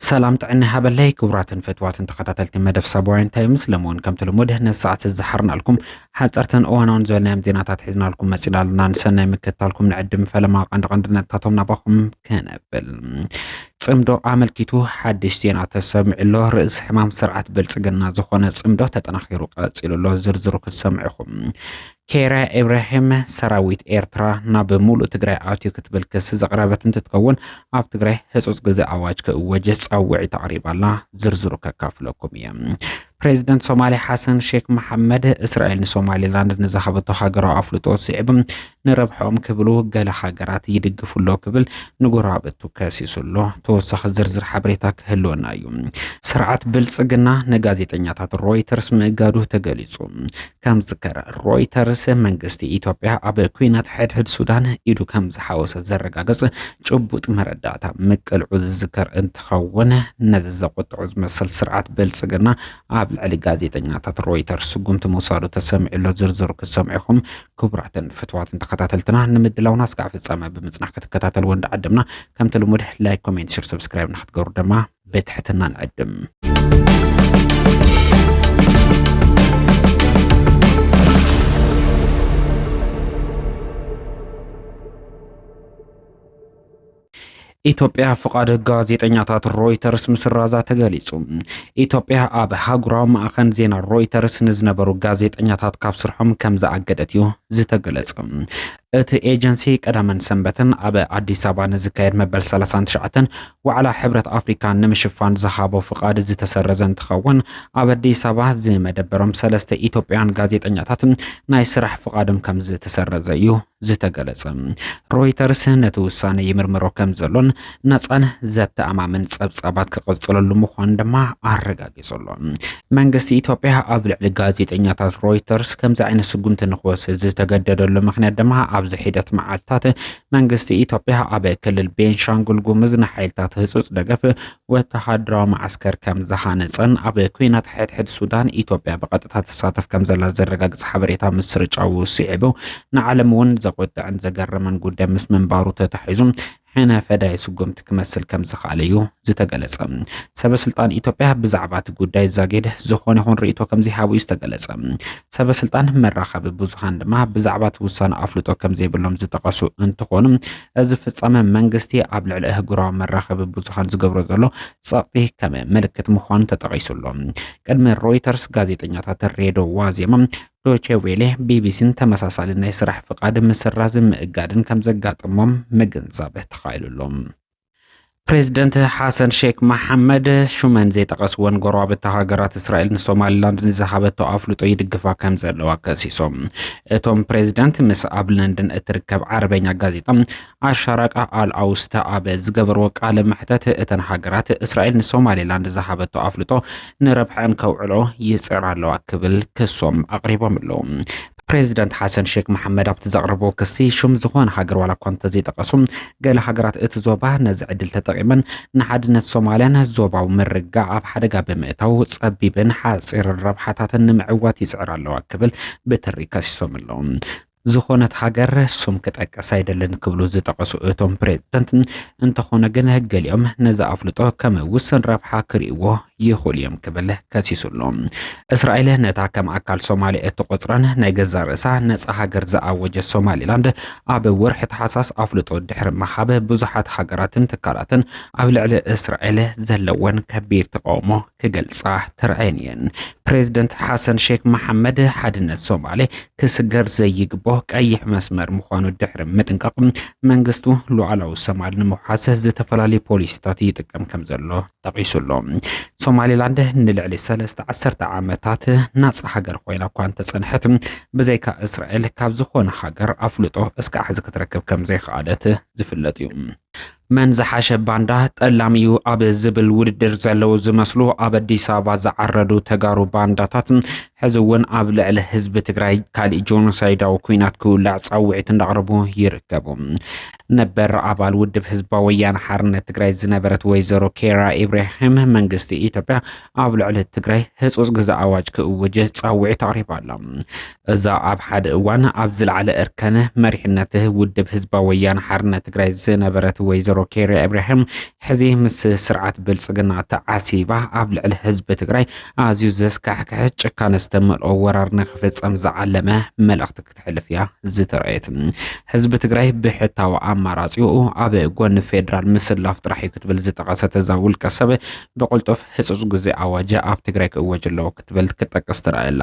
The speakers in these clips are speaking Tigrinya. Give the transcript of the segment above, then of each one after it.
ሰላም ጥዕና ሃበለይ ክቡራትን ፈትዋትን ተኸታተልቲ መደብ ሳባውያን ታይምስ ለመውን ከምቲ ልሙድ ነዚ ሰዓት ዝሓርናልኩም ሓፀርትን እዋናውን ዝበልናዮም ዜናታት ሒዝናልኩም መፂና ኣለና ንሰናይ ምክትታልኩም ንዕድም ፈለማ ቀንዲ ቀንዲ ነጥታቶም ናባኹም ከነብል ፅምዶ ኣመልኪቱ ሓድሽ ዜና ተሰሚዑ ኣሎ። ርእሲ ሕማም ስርዓት ብልፅግና ዝኾነ ፅምዶ ተጠናኺሩ ቀፂሉ ኣሎ። ዝርዝሩ ክትሰምዑ ኢኹም። ኬራ ኢብራሂም ሰራዊት ኤርትራ ናብ ሙሉእ ትግራይ ኣትዩ ክትብል ክሲ ዘቕረበት እንትትከውን ኣብ ትግራይ ህፁፅ ግዜ ኣዋጅ ክእወጅ ፃውዒት ኣቕሪባ ኣላ። ዝርዝሩ ከካፍለኩም እየ። ፕሬዚደንት ሶማሌ ሓሰን ሼክ መሓመድ እስራኤል ንሶማሌላንድ ንዝሃበቶ ሃገራዊ ኣፍልጦ ስዒቡ ንረብሐኦም ክብሉ ገለ ሃገራት ይድግፉ ኣሎ ክብል ንጎረባብቱ ከሲሱ ኣሎ። ተወሳኺ ዝርዝር ሓበሬታ ክህልወና እዩ። ስርዓት ብልጽግና ንጋዜጠኛታት ሮይተርስ ምእጋዱ ተገሊጹ። ከም ዝከረ ሮይተርስ መንግስቲ ኢትዮጵያ ኣብ ኩናት ሕድሕድ ሱዳን ኢዱ ከም ዝሓወሰ ዘረጋገጽ ጭቡጥ መረዳእታ ምቅልዑ ዝዝከር እንትኸውን ነዚ ዘቆጥዑ ዝመስል ስርዓት ብልጽግና ኣብ ልዕሊ ጋዜጠኛታት ሮይተርስ ስጉምቲ ምውሳዱ ተሰሚዑ ኣሎ። ዝርዝሩ ክሰምዑ ኢኹም። ክቡራትን ፍትዋትን ተኸታተልትና ንምድላውና እስካዕ ፍጻመ ብምጽናሕ ክትከታተልዎ እንዳዓደምና ከምቲ ልሙድ ላይክ ኮሜንት ሽር ሰብስክራይብ ንክትገብሩ ድማ ብትሕትና ንዕድም ኢትዮጵያ ፍቓድ ጋዜጠኛታት ሮይተርስ ምስራዛ ተገሊጹ። ኢትዮጵያ ኣብ ሃጉራዊ ማዕኸን ዜና ሮይተርስ ንዝነበሩ ጋዜጠኛታት ካብ ስርሖም ከም ዝኣገደት እዩ ዝተገለጸ። እቲ ኤጀንሲ ቀዳመን ሰንበትን ኣብ ኣዲስ ኣበባ ንዝካየድ መበል 39 ዋዕላ ሕብረት ኣፍሪካ ንምሽፋን ዝሃቦ ፍቓድ ዝተሰረዘ እንትኸውን ኣብ ኣዲስ ኣበባ ዝመደበሮም ሰለስተ ኢትዮጵያውያን ጋዜጠኛታት ናይ ስራሕ ፍቓዶም ከም ዝተሰረዘ እዩ ዝተገለጸ ሮይተርስ ነቲ ውሳነ ይምርምሮ ከም ዘሎን ናጻን ዘተኣማምን ጸብጻባት ክቕጽለሉ ምዃኑ ድማ ኣረጋጊጹ ኣሎ። መንግስቲ ኢትዮጵያ ኣብ ልዕሊ ጋዜጠኛታት ሮይተርስ ከምዚ ዓይነት ስጉምቲ ንክወስድ ዝተገደደሉ ምክንያት ድማ ኣብዚ ሒደት መዓልትታት መንግስቲ ኢትዮጵያ ኣብ ክልል ቤንሻንጉል ጉምዝ ንሓይልታት ህጹጽ ደገፍ ወተሃደራዊ መዓስከር ከም ዝሃነጸን ኣብ ኩናት ሕድሕድ ሱዳን ኢትዮጵያ ብቐጥታ ትሳተፍ ከም ዘላ ዘረጋግጽ ሓበሬታ ምስርጫው ስዒቡ ንዓለም እውን ዘቖጥዕን ዘገረመን ጉዳይ ምስ ምንባሩ ተታሒዙ ሕነ ፈዳይ ስጉምቲ ክመስል ከም ዝኽኣለ እዩ ዝተገለጸ። ሰበ ስልጣን ኢትዮጵያ ብዛዕባ እቲ ጉዳይ ዛጊድ ዝኾነ ይኹን ርእይቶ ከም ዘይሃቡ እዩ ዝተገለጸ። ሰበ ስልጣን መራኸቢ ብዙሃን ድማ ብዛዕባ እቲ ውሳነ ኣፍልጦ ከም ዘይብሎም ዝጠቐሱ እንትኾኑ እዚ ፍጻመ መንግስቲ ኣብ ልዕሊ ኣህጉራዊ መራኸቢ ብዙሃን ዝገብሮ ዘሎ ጸቕጢ ከም ምልክት ምዃኑ ተጠቒሱ ኣሎ። ቅድሚ ሮይተርስ ጋዜጠኛታት ሬድዮ ዋዜማ፣ ዶቼ ቬሌ፣ ቢቢሲን ተመሳሳሊ ናይ ስራሕ ፍቓድ ምስራዝን ምእጋድን ከም ዘጋጠሞም ምግንዛብ ተኻኢሉ ኣሎ። ፕሬዝደንት ሓሰን ሼክ መሓመድ ሹመን ዘይጠቐስወን ጎረባብቲ ሃገራት እስራኤል ንሶማሊላንድ ንዝሃበቶ ኣፍልጦ ይድግፋ ከም ዘለዋ ከሲሶም። እቶም ፕሬዝደንት ምስ ኣብ ለንደን እትርከብ ዓረበኛ ጋዜጣ ኣሻራቃ ኣል ኣውስታ ኣብ ዝገበርዎ ቃለ መሕተት እተን ሃገራት እስራኤል ንሶማሊላንድ ዝሃበቶ ኣፍልጦ ንረብሐን ከውዕሎ ይጽዕራ ኣለዋ ክብል ክሶም ኣቕሪቦም ኣለዉ። ፕሬዚደንት ሓሰን ሼክ መሓመድ ኣብቲ ዘቕረብዎ ክሲ ሽም ዝኾነ ሃገር ዋላ እኳ እንተዘይጠቐሱ ገለ ሃገራት እቲ ዞባ ነዚ ዕድል ተጠቒመን ንሓድነት ሶማልያን ዞባዊ ምርግጋዕ ኣብ ሓደጋ ብምእታው ጸቢብን ሓጺርን ረብሓታተን ንምዕዋት ይጽዕራ ኣለዋ ክብል ብትሪ ከሲሶም ኣለዉ። ዝኾነት ሃገር ስም ክጠቅስ ኣይደልን ክብሉ ዝጠቐሱ እቶም ፕሬዚደንት እንተኾነ ግን ገሊኦም ነዚ ኣፍልጦ ከም ውስን ረብሓ ክርእይዎ ይኽእሉ እዮም ክብል ከሲሱ ኣሎ። እስራኤል ነታ ከም ኣካል ሶማልያ እትቖጽራን ናይ ገዛእ ርእሳ ነጻ ሃገር ዝኣወጀት ሶማሊላንድ ኣብ ወርሒ ታሕሳስ ኣፍልጦ ድሕሪ ምሃብ ብዙሓት ሃገራትን ትካላትን ኣብ ልዕሊ እስራኤል ዘለወን ከቢድ ተቓውሞ ክገልጻ ተራእየን እየን። ፕሬዝደንት ሓሰን ሼክ መሓመድ ሓድነት ሶማሌ ክስገር ዘይግቦ ቀይሕ መስመር ምዃኑ ድሕሪ ምጥንቃቕ መንግስቱ ሉዓላዊ ሶማል ንምውሓስ ዝተፈላለዩ ፖሊሲታት ይጥቀም ከም ዘሎ ጠቒሱ ኣሎ። ሶማሊላንድ ንልዕሊ ሰለስተ ዓሰርተ ዓመታት ናጻ ሃገር ኮይና እኳ እንተጸንሐት ብዘይካ እስራኤል ካብ ዝኾነ ሃገር ኣፍልጦ እስካዕ ሕዚ ክትረክብ ከም ዘይኸኣለት ዝፍለጥ እዩ። መን ዝሓሸ ባንዳ ጠላም እዩ ኣብ ዝብል ውድድር ዘለዉ ዝመስሉ ኣብ ኣዲስ ኣበባ ዝዓረዱ ተጋሩ ባንዳታት ሕዚ እውን ኣብ ልዕሊ ህዝቢ ትግራይ ካሊእ ጆኖሳይዳዊ ኩናት ክውላዕ ፃውዒት እንዳቕረቡ ይርከቡ። ነበር ኣባል ውድብ ህዝባዊ ወያነ ሓርነት ትግራይ ዝነበረት ወይዘሮ ኬራ ኢብራሂም መንግስቲ ኢትዮጵያ ኣብ ልዕሊ ትግራይ ህፁፅ ግዘ ኣዋጅ ክእውጅ ፃውዒት ኣቕሪባ ኣላ። እዛ ኣብ ሓደ እዋን ኣብ ዝለዓለ እርከን መሪሕነት ውድብ ህዝባዊ ወያነ ሓርነት ትግራይ ዝነበረት ወይዘሮ ኬራ ኢብራሂም ሕዚ ምስ ስርዓት ብልፅግና ተዓሲባ ኣብ ልዕሊ ህዝቢ ትግራይ ኣዝዩ ዘስካሕክሐ ጭካነ ዝተመልኦ ወራር ንክፍፀም ዝዓለመ መልእኽቲ ክተሕልፍ እያ ዝተረኣየት። ህዝቢ ትግራይ ብሕታዊ ኣማራፂኡ ኣብ ጎኒ ፌዴራል ምስላፍ ጥራሕ እዩ ክትብል ዝጠቐሰት እዛ ውልቀ ሰብ ብቕልጡፍ ህፁፅ ግዜ ኣዋጅ ኣብ ትግራይ ክእወጅ ኣለዎ ክትብል ክጠቅስ ትረኣየላ።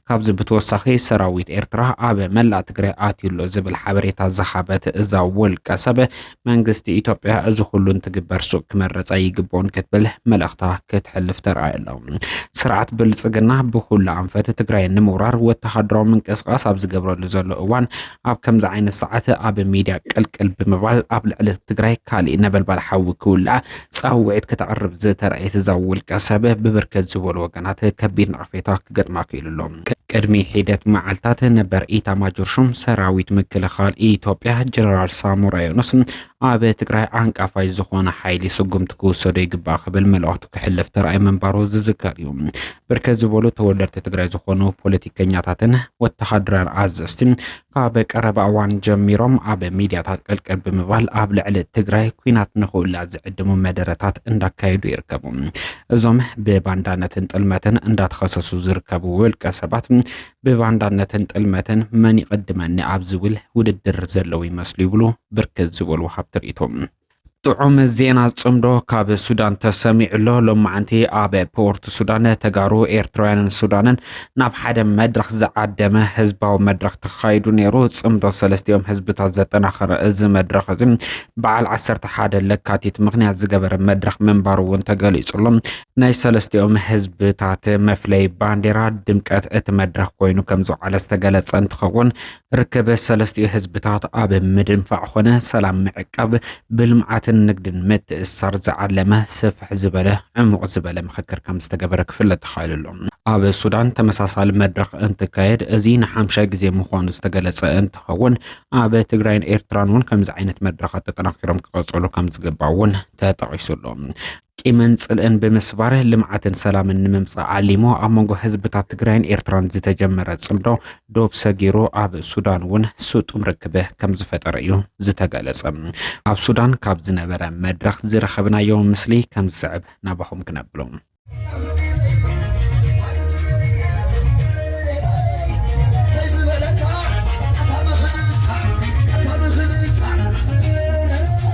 ካብዚ ብተወሳኺ ሰራዊት ኤርትራ ኣብ መላእ ትግራይ ኣትዩ ኣሎ ዝብል ሓበሬታ ዝሃበት እዛ ውልቀ ሰብ መንግስቲ ኢትዮጵያ እዚ ኩሉ እንትግበር ሱቅ ክመረፃ ይግብኦን ክትብል መልእኽታ ክትሕልፍ ተርኣይ ኣሎ። ስርዓት ብልፅግና ብኩሉ ኣንፈት ትግራይ ንምውራር ወተሃደራዊ ምንቅስቃስ ኣብ ዝገብረሉ ዘሎ እዋን ኣብ ከምዚ ዓይነት ሰዓት ኣብ ሚድያ ቅልቅል ብምባል ኣብ ልዕሊ ትግራይ ካሊእ ነበልባል ሓዊ ክውላዕ ጻውዒት ከተቕርብ ዝተራእየት እዛ ውልቀሰብ፣ ብብርክት ዝበሉ ወገናት ከቢድ ነቕፌታ ክገጥማ ክኢሉ ኣሎ። ቅድሚ ሒደት መዓልታት፣ ነበር ኢታማጆር ሹም ሰራዊት ምክልኻል ኢትዮጵያ ጀነራል ሳሞራ ዮኑስ፣ ኣብ ትግራይ ዓንቃፋይ ዝኾነ ሓይሊ ስጉምቲ ክውሰዶ ይግባእ ክብል መልእኽቱ ክሕልፍ ተራእዩ ምንባሩ ዝዝከር እዩ። ብርክት ዝበሉ ተወለድቲ ትግራይ ዝኾኑ ፖለቲከኛታትን ወተሃደራውያን ኣዘዝቲ ካብ ቀረባ እዋን ጀሚሮም ኣብ ሚድያታት ቅልቅል ብምባል ኣብ ልዕሊ ትግራይ ኩናት ንክውላ ዝዕድሙ መደረታት እንዳካየዱ ይርከቡ። እዞም ብባንዳነትን ጥልመትን እንዳተኸሰሱ ዝርከቡ ውልቀ ሰባት ብባንዳነትን ጥልመትን መን ይቕድመኒ ኣብ ዝብል ውድድር ዘለዉ ይመስሉ ይብሉ ብርክት ዝበሉ ወሃብቲ ሪኢቶ። ጥዑም ዜና ጽምዶ ካብ ሱዳን ተሰሚዑ ኣሎ። ሎማዓንቲ ኣብ ፖርት ሱዳን ተጋሩ ኤርትራውያንን ሱዳንን ናብ ሓደ መድረኽ ዝዓደመ ህዝባዊ መድረኽ ተኻይዱ ነይሩ። ጽምዶ ሰለስቲኦም ህዝብታት ዘጠናኸረ እዚ መድረኽ እዚ በዓል 11 ለካቲት ምክንያት ዝገበረ መድረኽ ምንባሩ እውን ተገሊጹሎ። ናይ ሰለስቲኦም ህዝብታት መፍለይ ባንዴራ ድምቀት እቲ መድረኽ ኮይኑ ከም ዝውዓለ ዝተገለጸ እንትኸውን ርክብ ሰለስቲኡ ህዝብታት ኣብ ምድንፋዕ ኾነ ሰላም ምዕቃብ ብልምዓትን ንግድን ምትእስሳር ዝዓለመ ስፍሕ ዝበለ ዕሙቕ ዝበለ ምኽክር ከም ዝተገበረ ክፍለጥ ተኻኢሉ ኣሎ። ኣብ ሱዳን ተመሳሳሊ መድረኽ እንትካየድ እዚ ንሓምሻይ ግዜ ምዃኑ ዝተገለጸ እንትኸውን ኣብ ትግራይን ኤርትራን እውን ከምዚ ዓይነት መድረኻት ተጠናኪሮም ክቐጽሉ ከም ዝግባእ እውን ተጠቒሱ ኣሎ። ቂምን ፅልእን ብምስባር ልምዓትን ሰላምን ንምምፃእ ዓሊሙ ኣብ መንጎ ህዝብታት ትግራይን ኤርትራን ዝተጀመረ ፅምዶ ዶብ ሰጊሩ ኣብ ሱዳን እውን ስጡም ርክብ ከም ዝፈጠረ እዩ ዝተገለፀ። ኣብ ሱዳን ካብ ዝነበረ መድረኽ ዝረኸብናዮ ምስሊ ከም ዝስዕብ ናባኹም ክነብሎ።